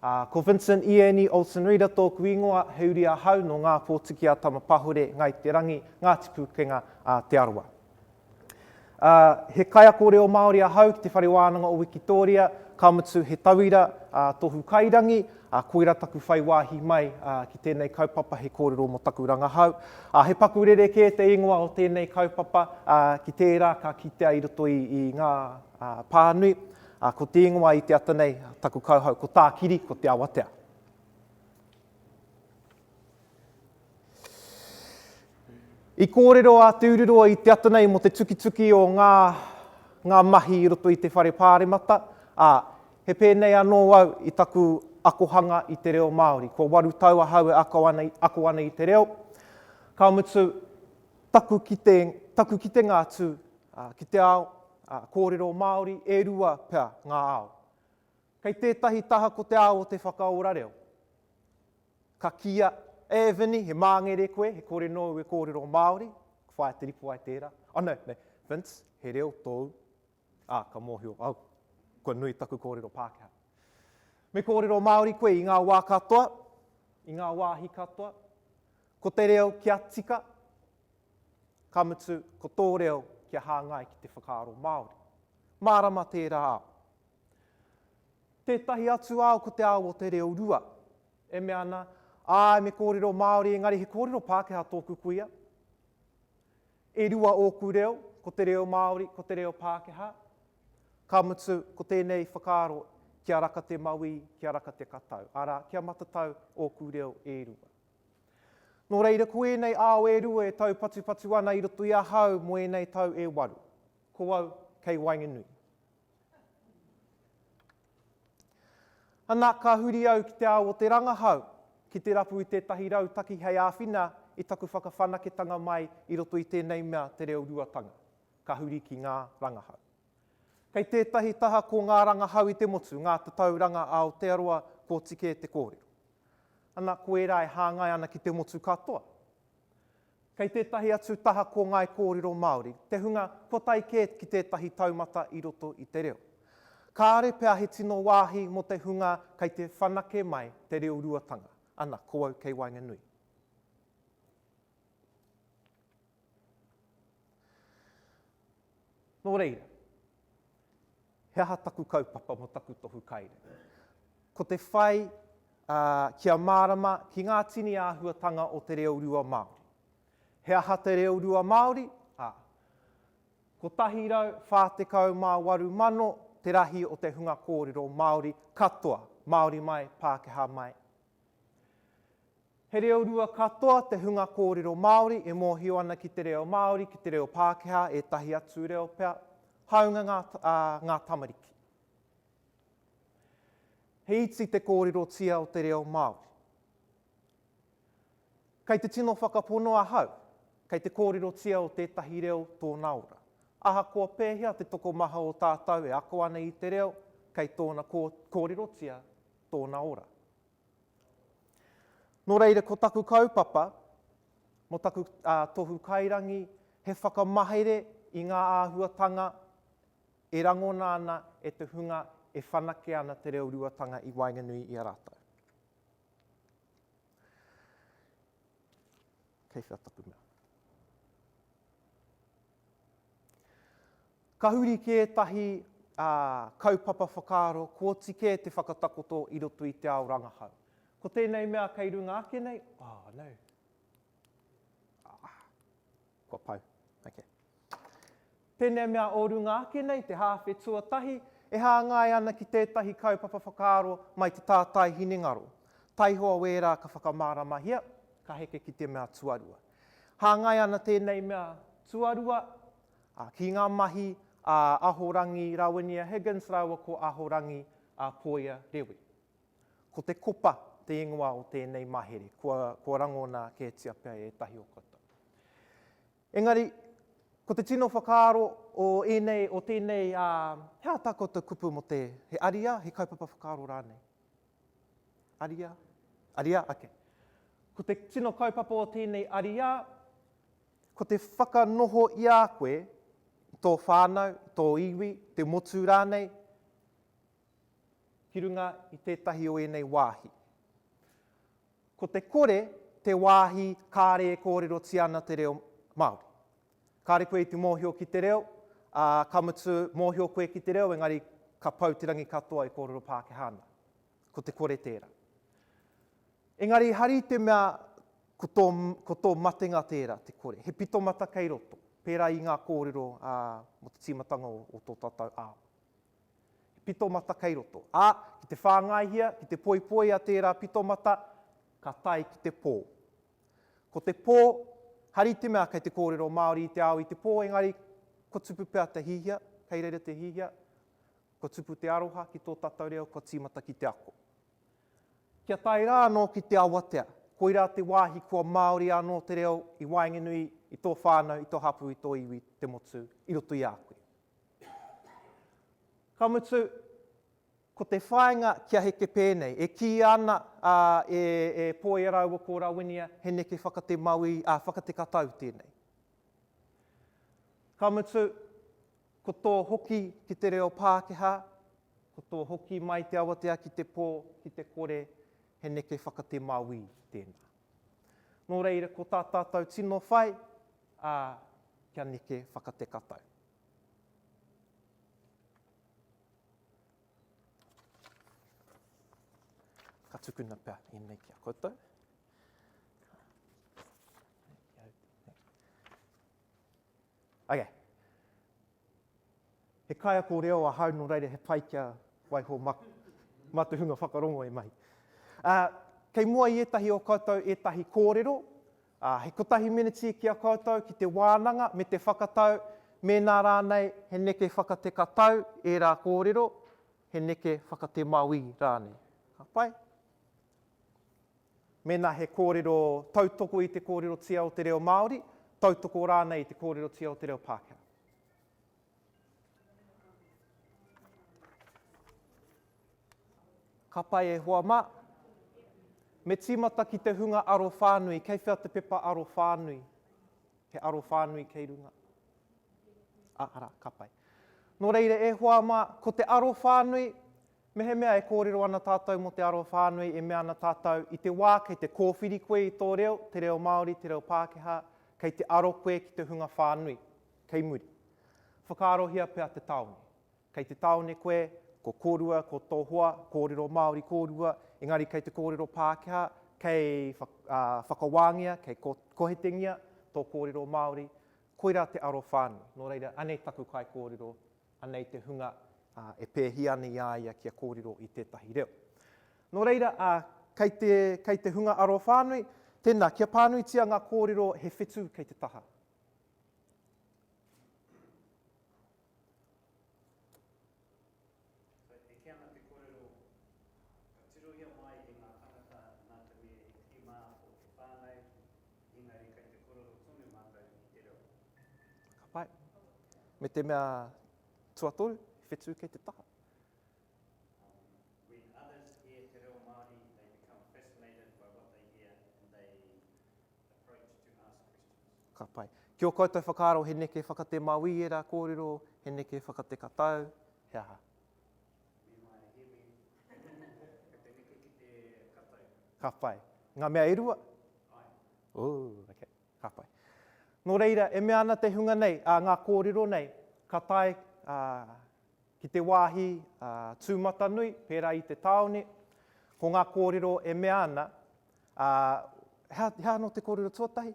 Ko Vincent Ieni Olsen Reader tōku ingoa, he uri ahau nō Ngā Pōtiki a Tamapahore, Ngai Te Rangi, Ngāti Pūkenga, a Te Arawa. Ā, he kaiako reo Māori ahau ki te Whare Wānanga o Wikitōria, ka mutu he tauira, ā, tohu kairangi, ā, koirā taku whai wāhi mai, ā, ki tēnei kaupapa he kōrero mō taku rangahau. Ā, he paku rerekē te ingoa o tēnei kaupapa, ā, ki tērā ka kitea i roto i, i ngā, ā, pānui, ā, ko te ingoa i te ata nei, taku kauhau, ko Tākiri, ko Te Awatea. I kōrero a Te Ururoa i te ata nei mō te tukituki o ngā, ngā mahi i roto i te Whare Pāremata, ā, he pēnei anō au i taku akohanga i te reo Māori. Kua waru tau ahau e ako ana, ako ana i te reo, ka mutu, taku kite, taku kitenga atu ki te ao, kōrero Māori, e rua pea ngā ao. Kei tētahi taha ko te ao o te whakaora reo. Ka kīia, E Vini, he māngere koe, he kore nōu e kōrero Māori, ka whaia te ripo ai tērā. Oh no, no, Vince, he reo tōu. Ā, ka mōhio au, kua nui taku kōrero Pākehā. Me kōrero Māori koe i ngā wā katoa, i ngā wāhi katoa, ko te reo kia tika, ka mutu, ko tō reo kia hāngai ki te whakaaro Māori. Mārama tērā ao. Tētahi atu ao ko te ao o te reo rua. E mea ana, Āe, me kōrero Māori, engari he kōrero Pākehā tōku kuia. E rua ōku reo, ko te reo Māori, ko te reo Pākehā. Ka mutu, ko tēnei whakaaro, kia raka te mawī, kia raka te katau, arā, kia matatau ōku reo e rua. Nō reira, ko ēnei ao e rua e taupatupatu ana i roto i ahau mō ēnei tau e waru. Ko au, kei waenganui. Ana, ka huri au ki te ao o te rangahau, ki te rapu i tētahi rautaki hei āwhina i taku whakawhanaketanga mai i roto i tēnei mea te reo ruatanga, ka huri ki ngā rangahau. Kei tētahi taha ko ngā rangahau i te motu, ngā tatauranga a Aotearoa koti kē te kōrero. Ana, ko ērā e hāngai ana ki te motu katoa. Kei tētahi atu taha ko ngāi kōrero Māori te hunga kua tae kē ki tētahi taumata i roto i te reo. Kāore pea he tino wāhi mō te hunga kei te whanake mai te reo ruatanga. Ana, ko au kei waenganui. Nō reira. he aha taku kaupapa mo taku tohu kaere. Ko te whai kia mārama ki ngā tini āhuatanga o te reo rua Māori. He aha te reo rua Māori? A. 148,000 te rahi o te hunga kōrero Māori katoa, Māori mai, Pākehā mai, He reo rua katoa te hunga kōrero Māori e mōhio ana ki te reo Māori, ki te reo Pākehā, ētahi atu reo pea, hāunga ngā, ā, ngā tamariki. He iti te kōrerotia o te reo Māori. Kei te tino whakapono ahau, kei te kōrerotia o tētahi reo tōna ora. Ahakoa pēhea te tokomaha o tātou e ako ana i te reo, kei tōna kō, kōrerotia tōna ora. Nō reira ko taku kaupapa mō taku tohu kairangi he whakamahere i ngā āhuatanga e rangona ana e te hunga e whanake ana te reo ruatanga i waenganui i a rātou. Kei whea taku mea. Ka huri ki ētahi kaupapa whakaaro, kōti kē te whakatakoto i roto i te ao rangahau. Ko tēnei mea kei runga ake nei, oh no, ah, kua pau, ok. Tēnei mea o runga ake nei, te hāwhe tuatahi, e hāngai ana ki tētahi kaupapa whakaaro mai te tātai hinengaro, taihoa wērā ka whakamāramahia, ka heke ki te mea tuarua. Hāngai ana tēnei mea tuarua, Ā, ki ngā mahi a Ahorangi Rawinia Higgins rāua ko Ahorangi Poia Rewi. Ko Te Kopa te ingoa o tēnei mahere, kua, kua rangona kētia pea e ētahi o koutou. Engari, ko te tino whakaaro o ēnei, o tēnei, ā, he aha tā koutou kupu mō te, he ariā, he kaupapa whakaaro rānei? Ariā? Ariā, ake. Ko te tino kaupapa o tēnei ariā, ko te whakanoho i a koe, i tō whānau, i tō iwi, i te motu rānei, ki runga i tētahi o ēnei wāhi. Ko te kore te wāhi kāre e kōrerotia ana te reo Māori. Kāre koe i te mōhio ki te reo, ā, ka mutu mōhio koe ki te reo, engari ka pau te rangi katoa e kōrero Pākehā ana. ko te kore tērā. Engari hari i te mea ko tō, ko tō matenga tērā, te kore. He pitomata kei roto, pērā i ngā kōrero ā, mō te tīmatanga o, o tō tātou ao. He pitomata kei roto. Ā, ki te whāngaihia, ki te poipoia tērā pitomata, ka tae ki te pō. Ko te pō, hari i te mea kei te kōrero Māori i te ao i te pō, engari, ko tupu pea te hihia, kei reira te hihia, Kua tupu te aroha ki tō tātou reo, kua tīmata ki te ako. Kia tae rā anō ki te awatea, koirā te wāhi kua māori anō te reo i waenganui i tō whānau, i tō hapū, i tō iwi, te motu, i roto i a koe. Ka mutu, ko te whāinga kia heke pēnei, e kīia ana a e Poia rāua ko Rawinia he neke whakate mauī, ā, whakate katau tēnei. Ka mutu, Ko tō hoki ki te reo Pākehā, ko tō hoki mai te awatea ki te pō, ki te kore, he neke whakate mawī tēnā. Nō reira, ko tā tātou tino whai, ā, kia neke whakate katau. Ka tukuna pea ēnei ki a koutou. Ok. He kaiako reo ahau no reira he pai kia waiho ma ma te hunga whakarongo e mahi. Uh, kei mua i etahi o koutou etahi korero, uh, he kotahi miniti ki a koutou ki te wānanga me te whakatau mēnā rānei he neke whakateka tau ērā kōrero, he neke whakatemawī rānei. Ka pai? Mēnā he kōrero, tautoko i te kōrerotia o te reo Māori, tautoko rānei i te kōrerotia o te reo Pākehā. Ka pai e hoa mā. Me tīmata ki te hunga aro whānui. Kei whea te pepa aro whānui? He aro whānui kei runga. A, ara, ka pai. Nō reira e hoa mā, ko te aro whānui, Mehemea e kōrero ana tātou mō te arowhānui e mea ana tātou i te wā kei te kōwhiri koe i tō reo, te reo Māori, te reo Pākehā, kei te aro koe ki te hunga whānui, kei muri. Whakaarohia pea te tāone. Kei te tāone koe, ko kōrua, ko tō hoa, kōrero Māori kōrua, engari kei te kōrero Pākehā, kei whakawāngia, kei kohetengia tō kōrero Māori, koirā te arowhānui. Nō reira, anei taku kaikōrero Anei te hunga, ā, e pēhia ana i a ia kia kōrero i tētahi reo. Nō reira, ā, kei te, kei te hunga arowhānui, tēnā, kia pānuitia ngā kōrero he whetū kei te taha. Kei te eke ana te kōrero, ka tirohia mai e ngā tāngata nā te mea he tirima ko te whānau, engari kei te korero tonu mātou i te reo. Ka pai. Me te mea tuatoru, he whetū kei te taha. Ka pai. Ki o koutou whakaaro he neke whakate mawī ērā kōrero, he neke whakate katau, he aha? Ka whai. Ngā mea e rua? Ooh, ok, ka whai. Nō reira, e mea ana te hunga nei, ā, ngā kōrero nei, ka tae ki te wāhi tūmatanui, pērā i te tāone, ko ngā kōrero e mea ana, he aha anō te kōrero tuatahi?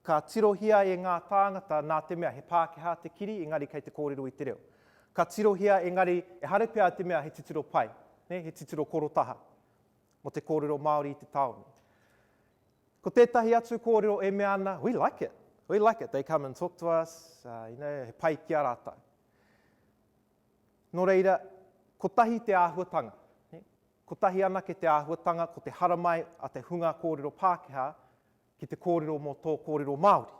Ka tirohia e ngā tāngata nā te mea he Pākehā te kiri engari kei te kōrero i te reo. Ka tirohia engari ehara pea te mea he titiro pai, he titiro korotaha mō te kōrero Māori i te tāone. Ko tētahi atu kōrero e mea ana, we like it, we like it, they come and talk to us, you know, he pai ki a rātou. Nō reira, kotahi te āhuatanga, kotahi anake te āhuatanga ko te haramai a te hunga kōrero Pākehā ki te kōrero mō tō kōrero Māori.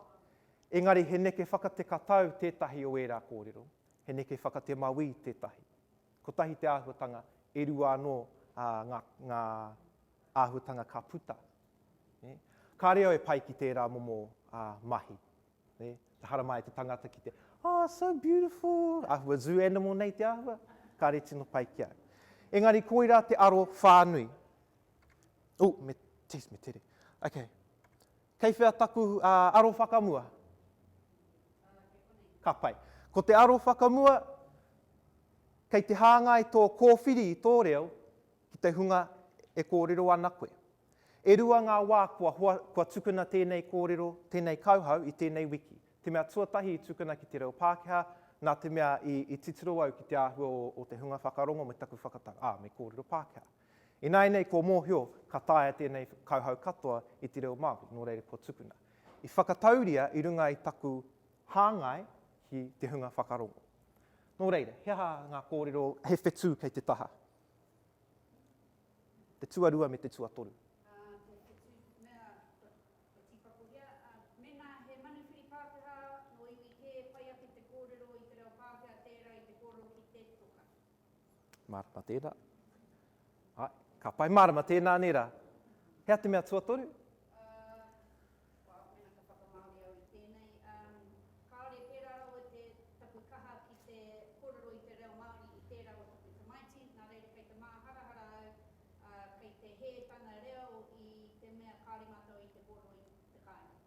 Engari he neke whakatekatau tētahi o ērā kōrero, he neke whakatemawī tētahi. Kotahi te āhuatanga, e rua anō ngā, ngā āhuatanga ka puta. Ka reo e pai ki tērā momo mahi. Haramai e te tangata ki te, oh, so beautiful, āhua zoo animal nei te āhua, kāre tino pai ki au. Engari koirā te aro whānui, Ooh, me, geez, me tere. Okay. Kei whea taku uh, aro whakamua? Ka pai. Ko te aro whakamua, kei te hāngai tō kōwhiri i tō reo ki te hunga e kōrero ana koe. E rua ngā wā kua, hoa, kua tukuna tēnei kōrero, tēnei kauhau i tēnei wiki. Te mea tuatahi i tukuna ki te reo Pākehā, nā te mea i, i titiro au ki te āhua o, o te hunga whakarongo me taku whakatanga, ā, ah, me kōrero Pākehā. Ināianei kua mōhio ka taea tēnei kauhau katoa i te reo Māori, nō reira kua tukuna. I whakatauria i runga i taku hāngai ki te hunga whakarongo. Nō reira, he aha ngā kōrero, he whetū kei te taha? Te tuarua me te tuatoru. Mārama tēnā. Āe, ka pai mārama tēnā nei rā. Hea te mea tuatoru?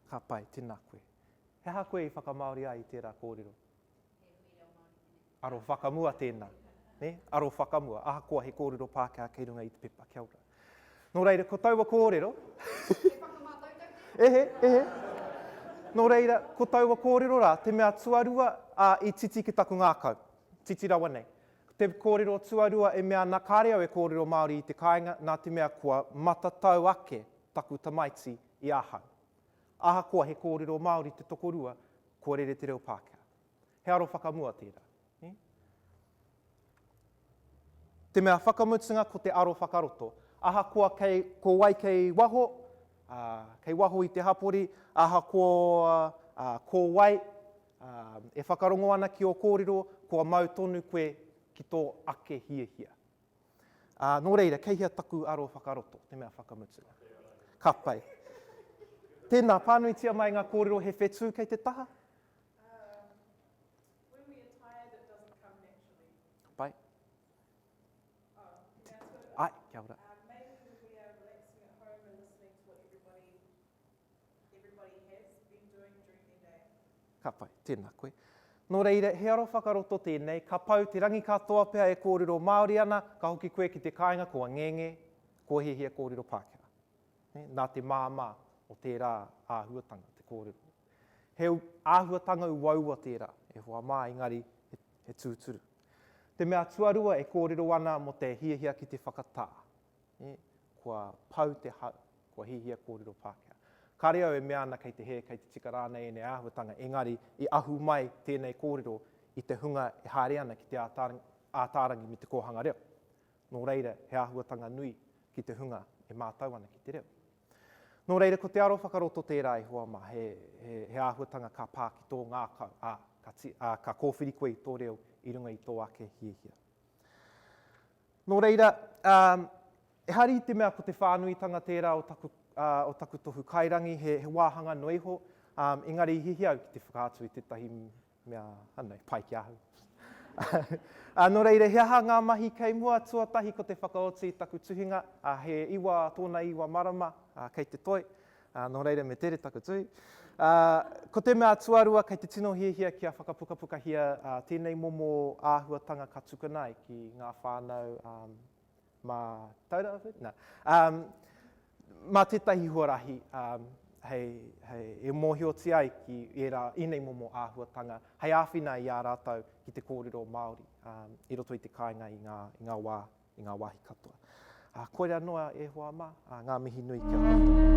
Ka pai, tēnā koe. He aha koe i whakamāori ai i tērā kōrero? Aro whakamua tēnā. Ne? Aro whakamua, ahakoa he kōrero Pākehā kei runga i te pepa. Kia ora. Nō reira, ko taua kōrero... E whakamātau tau tēnā? Ehe, ehe. Nō reira, ko taua kōrero rā, te mea tuarua, ā, i titi ki taku ngākau. Titi rawa nei. Te kōrero tuarua e mea ana, kāre au e kōrero Māori i te kāinga, nā te mea kua matatau ake taku tamaiti i ahau. Ahakoa he kōrero Māori te tokorua, kua rere te reo Pākehā. He aro whakamua tērā. Te mea whakamutunga ko te aro whakaroto. Ahakoa kei, ko wai kei waho, ā, kei waho i te hapori, ahakoa, ā, ko wai, ā, e whakarongo ana ki ō kōrero, kua mau tonu koe ki tō ake hiahia. Ā, nō reira, kei hea taku aro whakaroto, te mea whakamutunga? Ka pai. Tēnā, pānuitia mai ngā kōrero he whetū kei te taha. everybody has, been doing during their day. Ka pai, tēnā koe. Nō reira, he aro whakaroto tēnei, ka pau te rangi katoa pea e kōrero Māori ana, ka hoki koe ki te kāinga kua ngenge, kua hiahia kōrero Pākehā. Nā te māmā o tērā āhuatanga te kōrero. He āhuatanga uaua tērā, e hoa mā, engari he tūturu. Te mea tuarua e kōrero ana mō te hiahia ki te whakatā. kua pau te hau, kua hihia kōrero Pākehā. Kāre au e mea ana kei te hē, kei te tika rānei ēnei āhuatanga, engari i ahu mai tēnei kōrero i te hunga e haere ana ki te Ātaarangi me te kōhanga reo. Nō reira, he āhuatanga nui ki te hunga e mātau ana ki te reo. Nō reira, ko te aro whakaroto tērā e hoa mā, he, he, he āhuatanga ka pā ki tō ngākau, ā, ka, ti, ā, ka kōwhiri koe i tō reo i runga i tō ake hiahia. Nō reira, ehara i te mea ko te whānuitanga tērā o taku, o taku tohu kairangi, he, he wāhanga noa iho, engari i hiahia au ki te whakaatu i tētahi mea anei, pai ki ahau. Nō reira, he aha ngā mahi kei mua? Tuatahi ko te whakaoti i taku tuhinga, he iwa tōna iwa marama, kei te toi, Ā, nō reira me tere taku tū. Ā, ko te mea tuarua kei te tino hiahia kia whakapukapukahia ā, tēnei momo āhuatanga ka tukuna ai ki ngā whānau ā, mā Taura Whiri? Nā, ā, mā tētahi huarahi ā, hei, hei, e mōhiotia ai ki ērā, ēnei momo āhuatanga, hei āwhina i ā rātou ki te kōrero Māori ā, i roto i te kāinga i ngā, i ngā wā i ngā wāhi katoa. Ā, koirā noa e hoa mā, ā, ngā mihi nui ki a koutou.